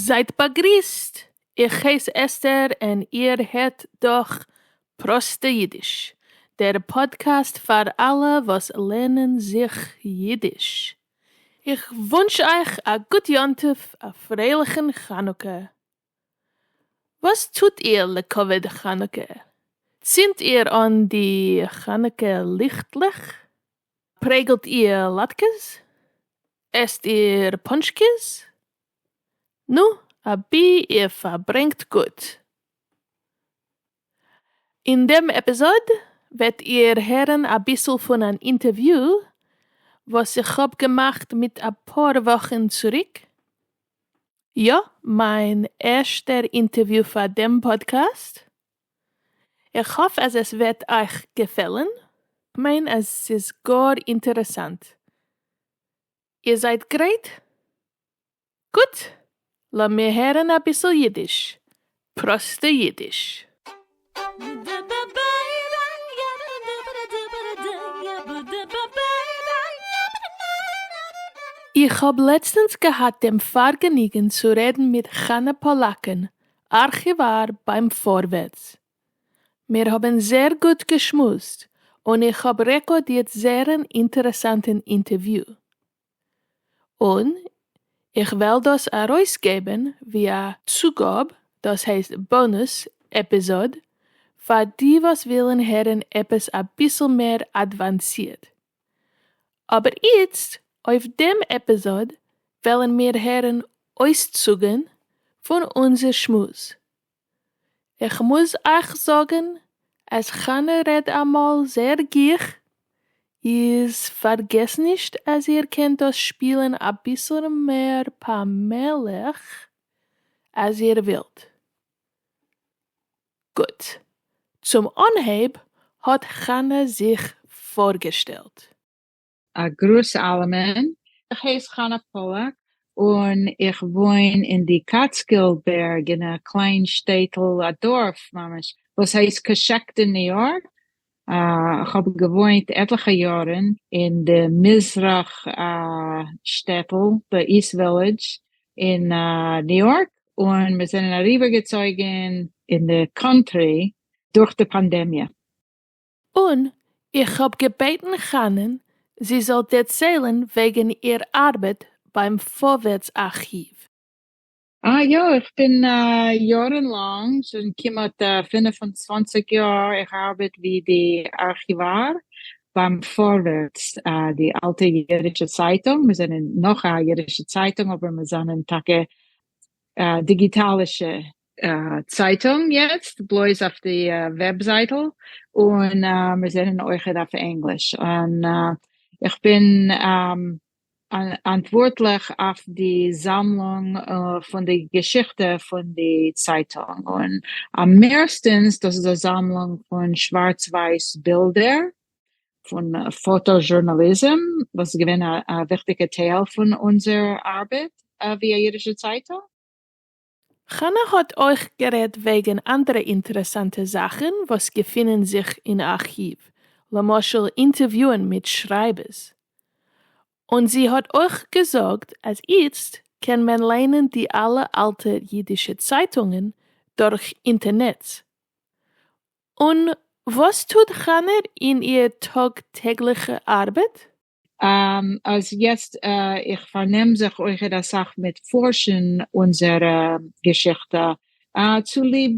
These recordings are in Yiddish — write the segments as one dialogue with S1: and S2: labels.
S1: זייט באגריסט! איך הייס אסתר און איר הערט דורך פראסטע אידיש, דער פאדקעסט פאר אלע וואס לערנען זיך אידיש. איך וואונטש אייך א גוט יום טוב א פרייליכן חנוכה. וואס טוט איר לכבוד חנוכה? צינדט איר אן די חנוכה ליכטלעך? פרעגלט איר לאטקעס? עסט איר פאנטשקעס? נו, אבי איר פארברענגט גוט. אין דעם עפיזאד וועט איר הערן אביסל פון אן אינטערוויו וואס איך האב געמאכט מיט אפאר וואכן צוריק, יא, מיין ערשטער אינטערוויו פאר דעם פאדקעסט, איך האף אז עס וועט אייך געפעלן, כ'מיין אז ס'איז גאר אינטערעסאנט, איר זייט גרייט? גוט, לאמיר הערן אביסל אידיש, פראסטע אידיש. איך האב לעצטענס געהאט דעם פארגעניגן צו רעדן מיט חנה פאלאקן, ארכיוואר ביים פארווערטס. מיר האבן זעהר גוט געשמועסט, און איך האב רעקארדירט זעהרן אינטערעסאנטן אינטערוויו. און איך וועל דאס ארויסגעבן ווי א צוגאב, דאס הייסט באנוס עפיזאד, פאר די וואס ווילן הערן עפעס אביסל מער אדוואנסירט. אבער איצט אויף דעם עפיזאד וועלן מיר הערן אויסצוגן פון אונזער שמועס, איך מוז אייך זאגן אז חנה רעד אמאל זעהר גיך, איז פארגעס נישט אז איר קענט דאס שפילן אביסל מער פאמעליך אז איר ווילט. גוט, צום אנהייב האט חנה זיך פארגעשטעלט. א
S2: גרוס אלעמען, איך הייס חנה פאללאק און איך וואוין אין די קאטסקילד בערג אין א קליין שטעטל, א דארף ממש, וואס הייסט קאשעקט אין ניו יארק, איך האב געוואוינט עטליכע יארן אין די מזרח שטעטל, די איסט ווילעדזש, אין ניו יארק, און מיר זענען אריבערגעצויגן אין די קאנטרי דורך די פאנדעמיע. און
S1: איך האב געבעטן חנן זי זאל דערציילן וועגן איר ארבעט ביים פארווערטס ארכיוו.
S2: אה יא, איך בין יארן לאנג, שוין כמעט פֿינף און צוואַנציק יאר, איך ארבעט ווי די ארכיוואר ביים פארווערטס, די אלטע אידישע צייטונג, מיר זענען נאך א אידישע צייטונג אבער מיר זענען טאקע דיגיטאלישע צייטונג יעצט בלויז אויף די וועבזייטל און מיר זענען אויכעט אויף ענגליש און איך בין אנטווארטליך אויף די זאמלונג פון די געשיכטע פון די צייטונג און אממערסטענס דאס איז א זאמלונג פון שווארץ ווייס בילדער פון פאטא זשורנאליזם וואס איז געווען א וויכטיגע טייל פון אונזער ארבעט ווי א אידישע צייטונג.
S1: חנה האט אויך גערעדט וועגן אנדערע אינטערעסאנטע זאכן וואס געפינען זיך אין ארכיוו, למשל אינטערוויוען מיט שרייבערס. און זי האט אויך געזאגט אז איצט קען מען ליינען די אלע אלטע אידישע צייטונגען דורך אינטערנעץ. און וואס טוט חנה אין איר טאג טעגליכע ארבעט?
S2: אז יעצט איך פארנעם זיך אויכעט אסאך מיט פארשן אונזערע געשיכטע צוליב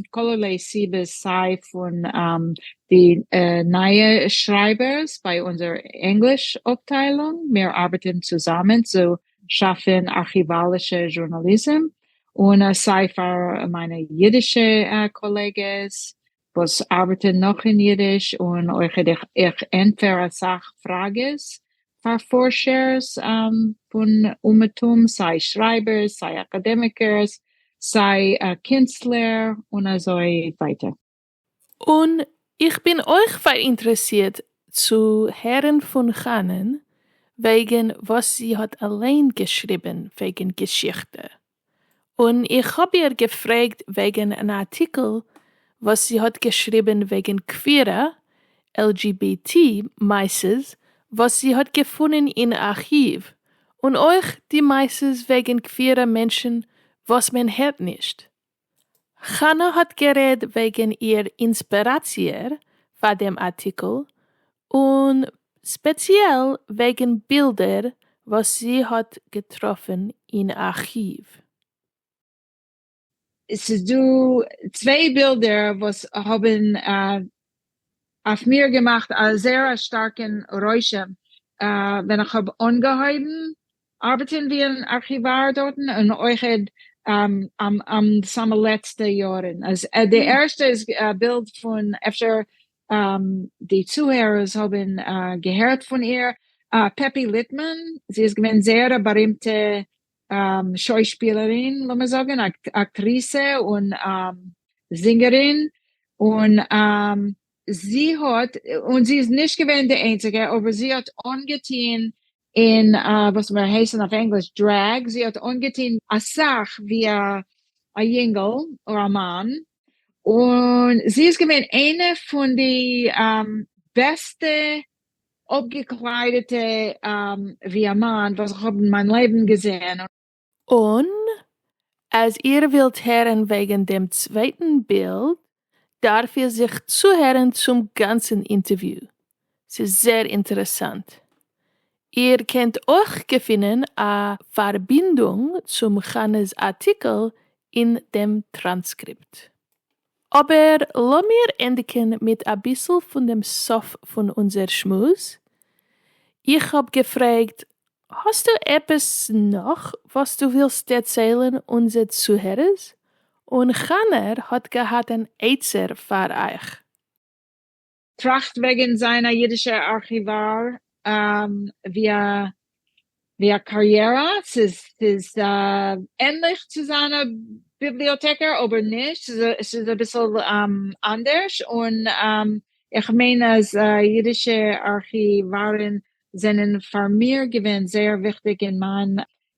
S2: כל'ערליי סיבות סיי פון די נייע שרייבערס ביי אונזער ענגליש אפטיילונג מיר ארבעטן צוזאמען צו שאפן ארכיוואלישע זשורנאליזם און סיי פאר מיינע אידישע קאלעגעס וואס ארבעטען נאך אין אידיש, און אויכעט איך איך ענטפער אסאך פראגעס פאר פארשערס פון אומעטום, סיי שרייבערס, סיי אקאדעמיקערס, סיי קינסטלער, און אזוי ווייטער. און
S1: איך בין אויך פאראינטרעסירט צו הערן פון חנן וועגן וואס זי האט אליין געשריבן וועגן געשיכטע, און איך האב איר געפרעגט וועגן אן ארטיקל וואס זי האט געשריבן וועגן קווירע, LGBT, מעשות וואס זי האט געפונען אין ארכיוו, און אויך די מעשות וועגן קווירע מענטשן וואס מען הערט נישט. חנה האט גערעד וועגן איר אינספעראציער פאר דעם ארטיקל, און ספעציעל וועגן בילדער וואס זי האט געטראפן אין ארכיוו.
S2: ס'איז דא צוויי בילדער וואס האבן אויף מיר געמאכט א זייער א שטארקן רושם ווען איך האב אנגעהויבן ארבעטן ווי אן ארכיוואר דארטן און אויך און די סאמע לעצטע יארן אז די ערשטע איז א בילד פון אפשר די צוהערערס האבן געהערט פון איר פעפי ליטמאן זי איז געווען זייער א בארימטע שוישפילערין לאמיר זאגן אקטריסע און זינגערין און זי האט און זי איז נישט געווען די איינציגע אבער זי האט אנגעטוהן און וואס וועט הייסן אויף ענגליש דרעג, זי האט אנגעטון אסאך ווי א יונגל אר א מאן, און זי איז געווען איינע פון די בעסטע אפגעקליידעטע ווי א מאן וואס איך האב אין מיין לעבן געזעהן, און
S1: אז איר ווילט הערן וועגן דעם צווייטן בילד דארף איר זיך צוהערן צום גאנצן אינטערוויו, ס'איז זעהר אינטערעסאנט. איר קענט אויך געפינען א פארבינדונג צום חנה'ס ארטיקל אין דעם טראנסקריפט. אבער לאמיר ענדיגן מיט אביסל פון דעם סוף פון אונזער שמועס, איך האב געפרעגט האסטו עפעס נאך וואס דו ווילסט דערציילן אונזער צוהערערס, און כנר האט געהאט אן עצה פאר אייך.
S2: טראכט וועגן זיין א אידישע ארכיוואר ווי א קאריערע, ס'איז ענליך צו זיין א ביבליאטעקער אבער נישט, ס'איז אביסל אנדערש, און איך מיין אז אידישע ארכיווארן זענען פאר מיר געווען זייער וויכטיג אין מיין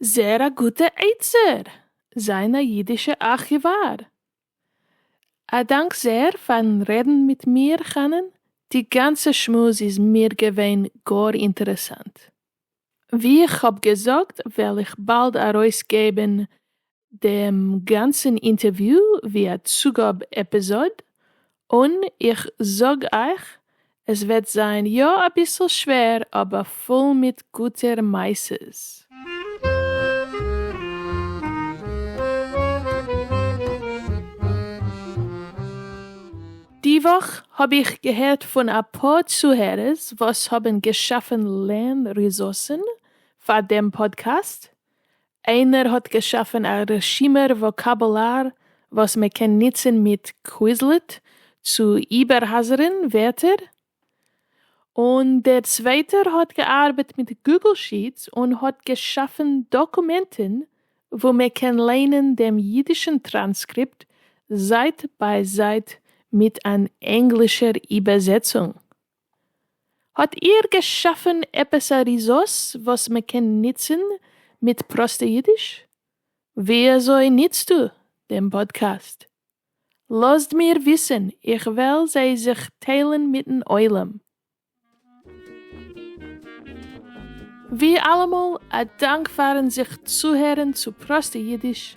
S2: זעהר א
S1: גוטע עצה! זיין א אידישע ארכיוואר! א דאנק זעהר פארן רעדן מיט מיר חנן, די גאנצע שמועס איז מיר געווען גאר אינטערעסאנט. ווי איך האב געזאגט וועל איך באלד ארויסגעבן דעם גאנצן אינטערוויו ווי א צוגאב עפיזאד, און איך זאג אייך עס וועט זיין יא אביסל שווער אבער פול מיט גוטע מעשה'ס. די וואך האב איך געהערט פון אפאר צוהערערס וואס האבן געשאפן לערן ריזארסן פאר דעם פאדקעסט, איינער האט געשאפן א רשימהר וואקאבולאר וואס מען קען ניצן מיט קוויזלעט צו איבערהאזערן ווערטער? און דער צווייטער האט געארבעט מיט גוגל שיעטס און האט געשאפן דאקומענטן וואו מען קען ליינען דעם אידישן טראנסקריפט זייט ביי זייט מיט אן ענגלישער איבעזעצונג. האט איהר געשאפען עפעס א ריזארס וואס מען קען ניצען מיט פראסטע אידיש? וויאזוי ניצטו דעם פאדקעסט? לאזט מיר וויסען איך וועל זיי זיך טיילען מיטן עולם. ווי אלעמאל, א דאנק פארן זיך צוהערן צו פראסטע אידיש.